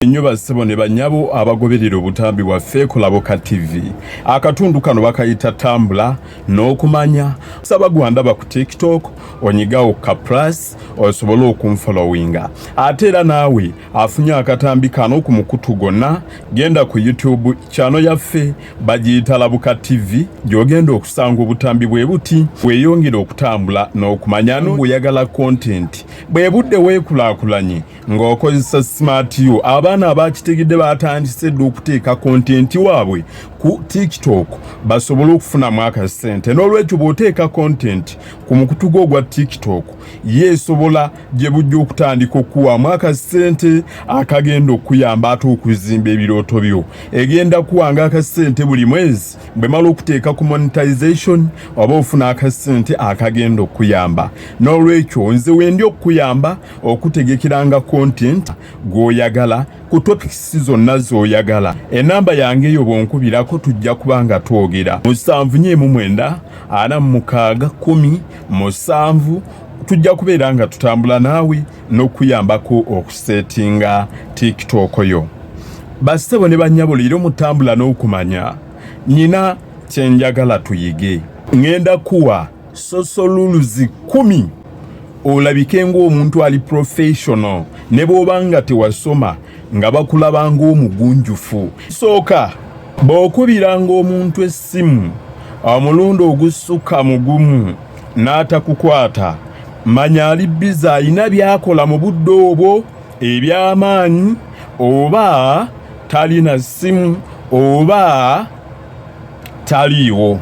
Mwebale nnyo bassebo ne banyabo abagoberera obutambi bwaffe kulaboka TV. Akatundu kano bakayita tambula n'okumanya. Saba gwandaba ku TikTok onyigawo ka plus osobole okunfollowinga. Ate era naawe afunye akatambi kano ku mukutu gonna genda ku YouTube kyano yaffe bagiyita labuka TV gy'ogenda okusanga obutambi bwe buti weeyongere okutambula n'okumanya n'oyagala kontenti bwe budde weekulaakulanye. ng'okozesa smart u abaana abakitegedde batandise dda okuteeka kontenti waabwe ku tiktok basobole okufunamu akasente n'olwekyo bw'oteeka kontenti ku mukutu gwo ogwa tiktok yeesobola gye bujja okutandika okukuwaamu akasente akagenda okukuyamba ate okuzimba ebirooto byo egenda kuwanga akasente buli mwezi bwe mala okuteeka ku monetization oba ofuna akasente akagenda okukuyamba n'olwekyo nze wendi okukuyamba okutegekeranga content gwoyagala ku topics zonna zoyagala enamba yange eyo bwonkubirako tujja kuba nga twogera musanvu nyo emu mwenda ana mukaaga kumi musanvu tujja kubeera nga tutambula naawe n'okuyambako okusetinga tiktok yo basebo ne banyabo leero mutambula n'okumanya nina kyenjagala tuyige ngenda kuwa sosoluluzi kumi olabike ng'omuntu ali professional ne bw'oba nga tewasoma nga bakulaba ng'omugunjufu sooka bw'okubiranga omuntu essimu omulundi ogusukka mu gumu n'atakukwata manya ali biza alina by'akola mu budde obwo eby'amaanyi oba talina ssimu oba taliiwo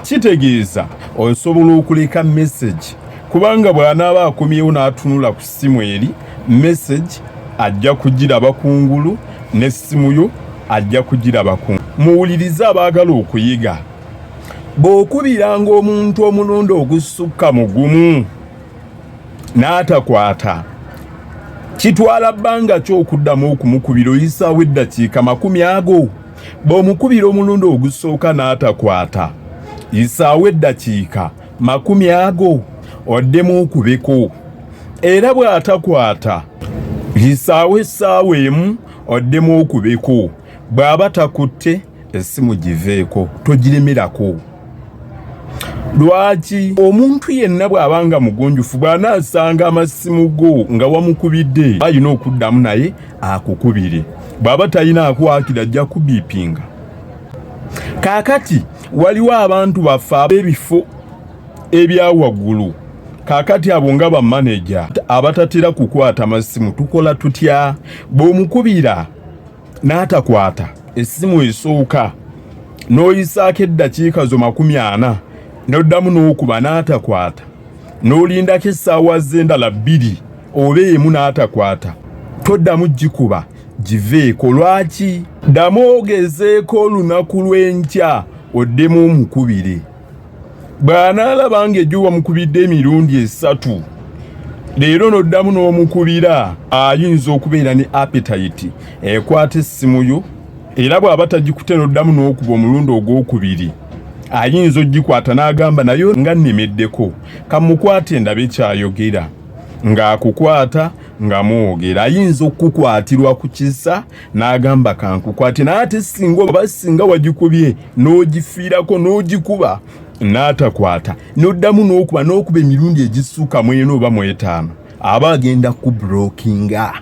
kitegeeza osobola okuleka message kubanga bw'anaaba akomyewo n'atunula ku ssimu eri message ajja kugiraba ku ngulu n'essimu yo ajja kugiraba ku muwulirize abaagala okuyiga bw'okubiranga omuntu omulundi ogusukka mu gumu n'atakwata kitwala bbanga ki okuddamu okumukubira oyisaawo eddakiika makumi ago bw'omukubira omulundi ogusooka n'atakwata yisaawo eddakiika makumi ago oddemu okubeko era bw'atakwata yisaawo essaawa emu oddemu okubeko bw'aba takutte essimu giveeko togiremerako lwaki omuntu yenna bw'aba nga mugunjufu bw'anaasanga amassimu go nga wamukubidde alina okuddamu naye akukubire bwaba talina akwakira ajja kubipinga kakati waliwo abantu baffe ab'ebifo ebyawaggulu kakati abo nga bamaneja abatatera kukwata masimu tukola tutya bw'omukubira n'atakwata essimu esooka n'oyisaako eddakiika zo makumi ana n'oddamu n'okuba n'atakwata n'olindako essaawa z'endala bbiri oba emu n'atakwata toddamu gikuba giveeko lwaki ddamu ogezeeko olunaku lw'enkya oddemu omukubire bw'anaalaba ng'ejjo wamukubidde emirundi esatu leero n'oddamu n'omukubira ayinza okubeera ne apetayiti ekwata essimu yo era bw'aba tagikute n'oddamu n'okuba omulundi ogw'okubiri ayinza ogikwata n'agamba nayo nga nnemeddeko kamukwate ndabe kyayogera ng'akukwata nga mwogera ayinza okukukwatirwa ku kisa n'agamba kankukwate naye ate singa oba singa wagikubye n'ogifiirako n'ogikuba n'atakwata n'oddamu n'okuba n'okuba emirundi egissuka mwena oba mwetaano aba agenda kubrokinga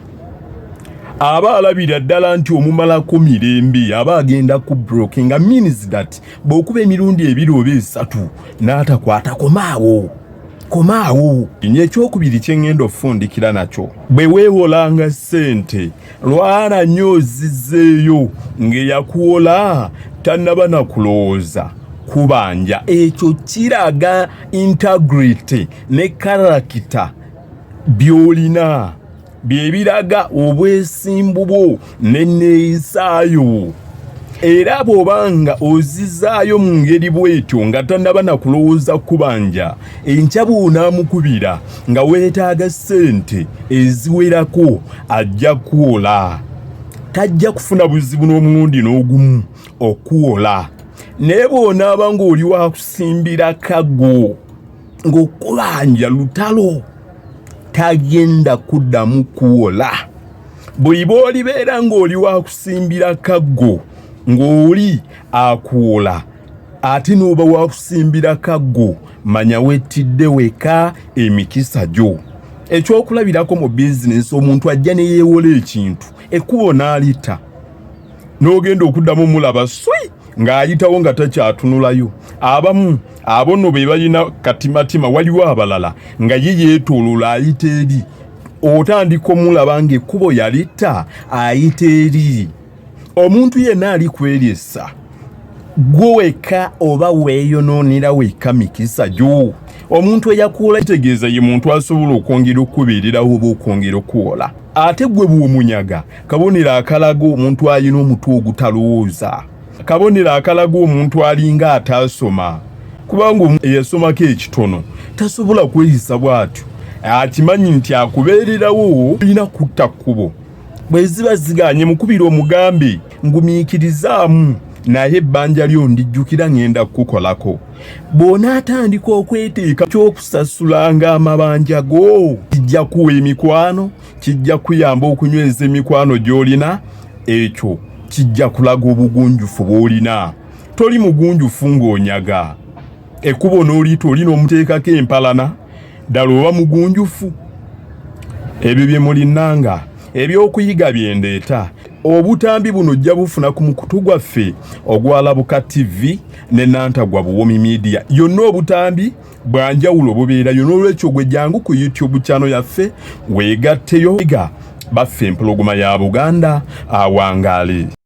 aba alabira ddala nti omumalako mirembe aba agenda ku broking means that bw'okuba emirundi ebiri oba esatu n'atakwatakoma awo komaawo nyo ekyokubiri kyengenda okufundikira nakyo bwe weewolanga ssente lwala nyo ozizeeyo ngeyakuwola tannaba nakulowooza kubanja ekyo kiraga integrity ne karakita byolina bye biraga obwesimbu bwo n'enneeyisaayo era bw'oba nga ozizaayo mu ngeri bw'etyo nga tannaba na kulowooza kubanja enkya bw'onaamukubira nga weetaaga ssente eziwerako ajja kuwola tajja kufuna buzibu n'omulundi n'ogumu okuwola naye bw'onaaba ng'oli wakusimbira kago ng'okubanja lutalo tagenda kuddamu kuwola bweiba olibeera ng'oli wakusimbira kaggo ng'oli akuwola ate n'oba wakusimbira kaggo manya wettidde weka emikisa gyo ekyokulabirako mu bizinensi omuntu ajja ne yeewola ekintu ekkubo n'alita n'ogenda okuddamu mulaba swi ng'ayitawo nga takyatunulayo abamu abono be balina katimatima waliwo abalala nga ye yeetoolola ayita eri otandika omulaba ng'ekkubo yalitta ayita eri omuntu yenna ali kweryesa gwe wekka oba weeyonoonera wekka mikisa gyo omuntu eyakuwola kitegeeza ye muntu asobola okwongera okukubeererawo oba okwongera okuwola ate gwe bw'omunyaga kabonero akalaga omuntu alina omutwe ogutalowooza kabonero akalaga omuntu alinga ataasoma kubanga eyasomako ekitono tasobola kweyisa bw'atyo akimanyi nti akubeererawo olina kutta kkubo bwe ziba zigaanye mukubira omugambe ngumiikirizaamu naye ebbanja lyo ndijjukira ŋenda kukukolako bw'onaatandika okweteeka ky'okusasulanga amabanja go kijja kuwa emikwano kijja kuyamba okunyweza emikwano gy'olina ekyo kijja kulaga obugunjufu bw'olina toli mugunjufu ng'onyaga ekkubo n'oliyita olina omuteekako empalana ddala oba mugunjufu ebyo bye mulinanga ebyokuyiga bye ndeeta obutambi buno ojja bufuna ku mukutu gwaffe ogwalabuka ttivi ne nantagwa buwomi midiya yonna obutambi bwanjawulo bubeerayo n'olwekyo gwe jangu ku youtube channel yaffe weegatteyo ga baffe empologoma ya buganda awangaale